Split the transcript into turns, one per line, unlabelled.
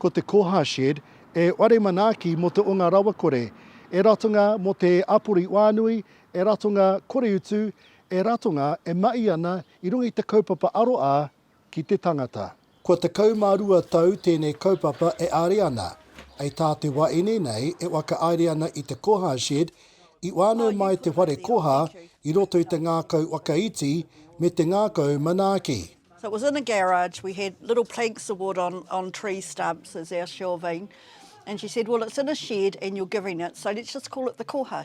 Ko te Koha Shed e whare manaaki mō te o ngā rawakore, e ratonga mō te āpori wānui, e ratonga koreutu, e ratonga e mahi ana i runga i te kaupapa aroā ki te tangata. Kua tekau mā rua tau tēnei kaupapa e āre ana. Hei tā te wā ine nei e whakaaere ana i te Koha Shed, i whānau mai te whare koha i roto i te ngākau whakaiti me te ngākau manaaki. So it was in a
garage, we had little planks of wood on on tree stumps as our shelving and she said well it's in a shed and you're giving it so let's just call it the Koha.